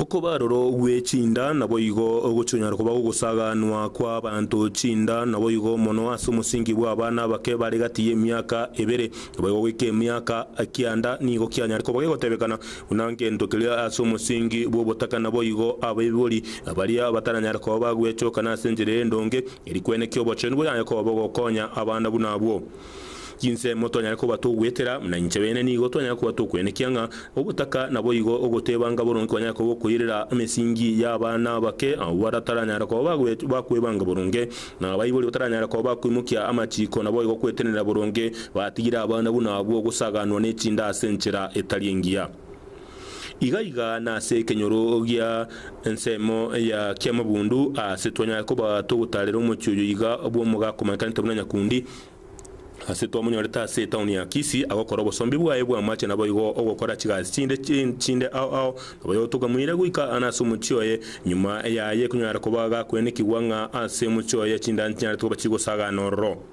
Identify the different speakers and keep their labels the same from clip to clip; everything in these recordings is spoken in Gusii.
Speaker 1: Okoba aroro gwe chinda naboigo ogochikonyara koba gogosaaganwa kw'abaanto chinda naboigo mono ase omosingi bw'abana abake bare gati y'emiaka ebere. Naboigo goika emiaka kianda nigo kianyare koba gegotebekana buna ngento keria ase omosingi bw'obotaka naboigo abaibori baria bataranyare koba bagwechokana ase enchera endonge eri kwenekia obochenu boyaye koba bogokonya abana buna abwo. Chinsemo twanyare koba togoetera, buna inche bene nigo twanyare koba tokwenekia ng'a ogotaka naboigo ogotebanga boronge kwanyare koba okoirera emesingi y'abana abake, abwo bataranyara koba bagoet bakwebanga boronge, na abaibori bataranyara koba bakoimokia amachiko naboigo gwetenenera boronge batigire abana buna abwo gosaganwa ne chinda ase enchera etari engiya. Iga iga nase ekenyoro gia ensemo ya kiamabundu ase twanyare koba togotaarera omochie oyo iga bw'omoga akomanyekante buna nyakundi, ase twamonyorete ase etaoni ya Kisii agokora obosombi bwaye bw'amache naboigo ogokora chigasi chinde chinde ao ao naboigo togamuira goika ane ase omochie oye. Nyuma yaye konyare koba gakwenekigwa ng'a ase omochie oye chinda nchinyaretwe koba chigosagana ororo.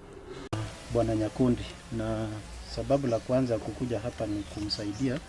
Speaker 1: Bwana
Speaker 2: nyakundi, na sababu la kwanza kukuja hapa ni kumsaidia.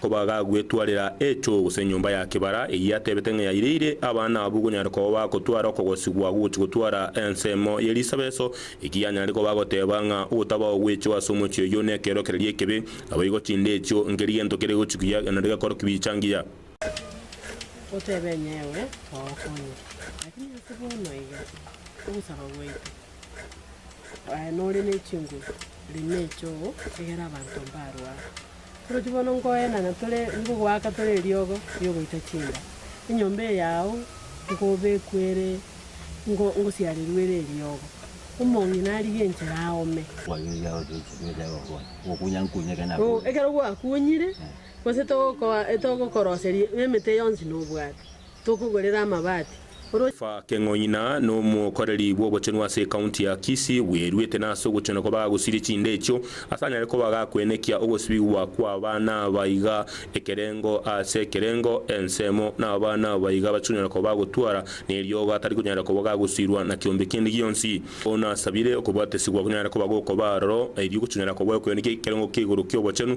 Speaker 2: Koba gagwetwarera
Speaker 1: echo, gose enyomba ya kebara, eyio atebete ng'a yaireire abana abwo konyara koba bagotwara okogosigwa gogochi gotwara ensemo ye risabeso, ekiya anyare koba agoteba ng'a ogotaba ogwechwa ase omochie oyio nekeorokereria ekebe, naboigo chinde echio nkeri gento kere gochi kuya naende gekoro kibicha ngiya. Otebe
Speaker 3: ng'a ewe twagokonya, lakini ase bono iga, ogosaba gwaito aye nore ne chinguru, rina echoo, egera abanto mbarwe aa. Orochi bono nkoenana tore nigo goaka tore eriogo riogoita chinda, enyomba eye yao nkobekwa ere ngo ngosiarerwe ere eriogo, omong'ina narige enchera aome. Oo, ekero gwakunyire, gose togokoa togokoroseria emete yonsi nobwate. Tokogorera amabati, oroche. Fake
Speaker 1: Ng'oina nomokoreri bw'obochenu ase ekaunti ya Kisii bweruete nase ogochena kwa bagosiria chinde echio ase anyare koba gakwenekia ogosibigwa kw'abana aba iga ekerengo ase ekerengo ensemo n'abana aba iga bachikonyara koba bagotwara neriogo atari konyara koba gagosirwa na kiombe kende gionsi. Bono asabire okobwatesigwa konyare koba gokoba aroro erio gochikonyara koba okwenekia ekerengo kia igoro ki'obochenu.